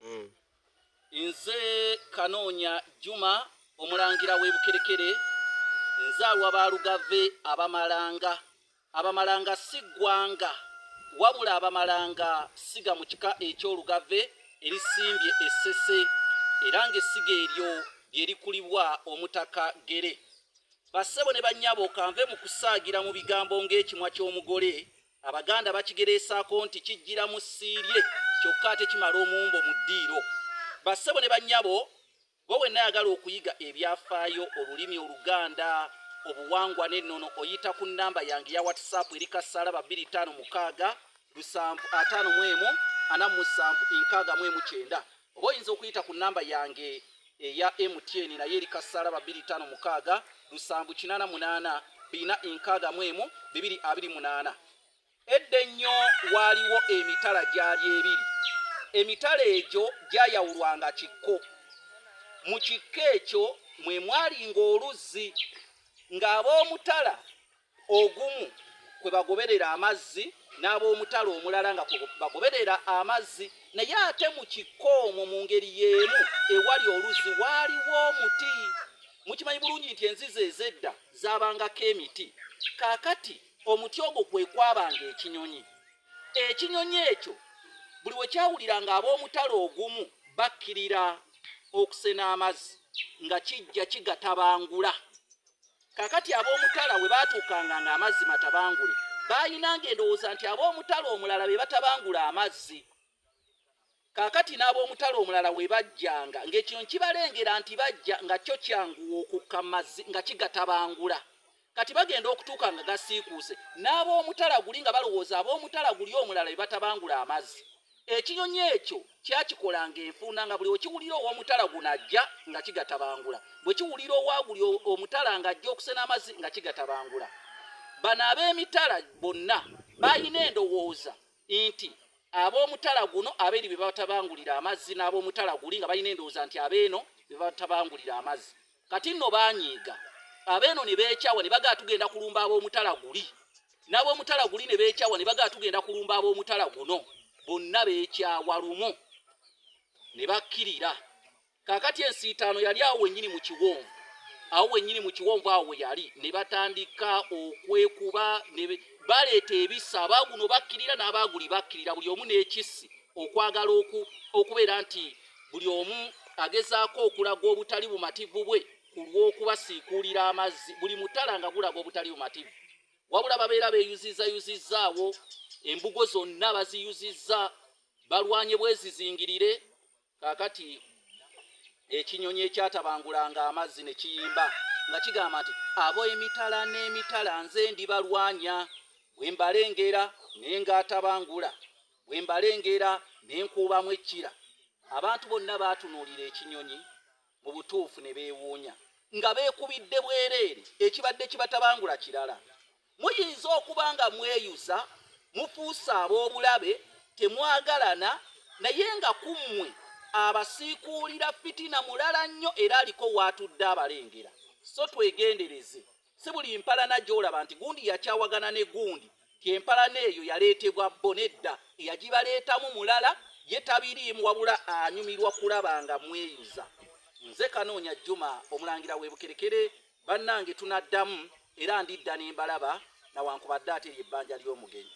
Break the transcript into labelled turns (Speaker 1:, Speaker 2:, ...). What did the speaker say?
Speaker 1: mm. nze kanoonya juma omulangira w'ebukerekere nzaalwa balugave abamalanga abamalanga si ggwanga wabula abamalanga siga mu kika eky'olugave erisimbye essese era ng'essiga eryo lye likulibwa omutaka gere bassebo ne bannyabo kanve mu kusaagira mu bigambo ng'ekimwa ky'omugole Abaganda bakigereesaako nti kijjira mu ssiirye kyokka ate kimala omumbo mu ddiiro. Bassebo ne bannyabo, gwe wenna ayagala okuyiga ebyafaayo, olulimi Oluganda, obuwangwa n'ennono oyita ku nnamba yange eya WhatsApp eri kasaala babiri ttaano mukaaga lusanvu ataano mu emu ana mu musanvu nkaaga mu emu kyenda. oba oyinza okuyita ku namba yange eya mtn naye eri kasaala ba 256 788 edda ennyo waaliwo emitala gyali ebiri emitala egyo gyayawulwanga kikko mu kikko ekyo mwe mwalinga oluzzi ng'ab'omutala ogumu kwe bagoberera amazzi n'ab'omutala omulala nga kwe bagoberera amazzi naye ate mu kikko omwo mu ngeri y'emu ewali oluzzi waaliwo omuti mukimanyi bulungi nti enzizi ez'edda zaabangako emiti kaakati omuti ogwo kwe kwabanga ekinyonyi ekinyonyi ekyo buli we kyawulira nga ab'omutala ogumu bakkirira okusena amazzi nga kijja kigatabangula Kakati ab'omutala we baatuukanga ng'amazzi matabangule, baalinanga endowooza nti ab'omutala omulala be batabangula amazzi. Kakati n'ab'omutala omulala we bajjanga, ng'ekinyonyi kibalengera nti bajja, nga kyo kyanguwa okukka mu mazzi nga kigatabangula. Kati bagenda okutuuka nga gasiikuuse, n'ab'omutala guli nga balowooza ab'omutala guli omulala be batabangula amazzi. Ekinyonyi ekyo kyakikola nga enfuuna nga buli wekiwulira owomutala guno ajja nga kigatabangula bwekiwulira owaguli omutala nga ajja okusena amazi nga kigatabangula. Bano abemitala bonna balina endowooza nti abomutala guno aberi bebatabangulira amazzi nabomutala guli nga balina endowooza nti abeeno bebatabangulira amazzi. Kati nno baanyiiga, abeeno ne beekyawa ne bagala tugenda kulumba ab'omutala guli, n'ab'omutala guli ne beekyawa ne bagala tugenda kulumba ab'omutala guno, bonna beekyawa lumu ne bakkirira. Kaakati ensiitaano yali awo wennyini mu kiwonvu, awo wennyini mu kiwonvu awo we yali, ne batandika okwekuba, ne baleeta ebisa, abaaguno bakkirira n'abaaguli bakkirira, buli omu n'ekissi, okwagala oku, okubeera nti Buli omu agezaako okulaga obutali bumativu bwe ku lw'okubasiikuulira amazzi buli mutala nga gulaga obutali bumativu wabula babeera beeyuzizzayuzizzaawo embugo zonna baziyuzizza balwanye bwezizingirire kakati ekinyonyi ekyatabangulanga amazzi ne kiyimba nga kigamba nti abo emitala n'emitala nze ndibalwanya bwe mbalengera naye ng'atabangula Bwe mbalengera ne nkuubamu ekkira, abantu bonna baatunuulira ekinyonyi mu butuufu ne beewuunya, nga beekubidde bwereere ekibadde kibatabangula kirala. Muyinza okuba nga mweyuza, mufuuse ab'obulabe, temwagalana, naye nga ku mmwe abasiikuulira fitina mulala nnyo era aliko w'atudde abalengera. So twegendereze. si buli mpalana gy'olaba nti gundi yakyawagana ne gundi ti empalana eyo yaleetebwa bo nedda eyagibaleetamu mulala ye tabiriimu wabula anyumirwa kulaba nga mweyuza nze kanoonya juma omulangira webukerekere bannange tunaddamu era ndidda ne mbalaba nawankubadde ate lye bbanja ly'omugenyi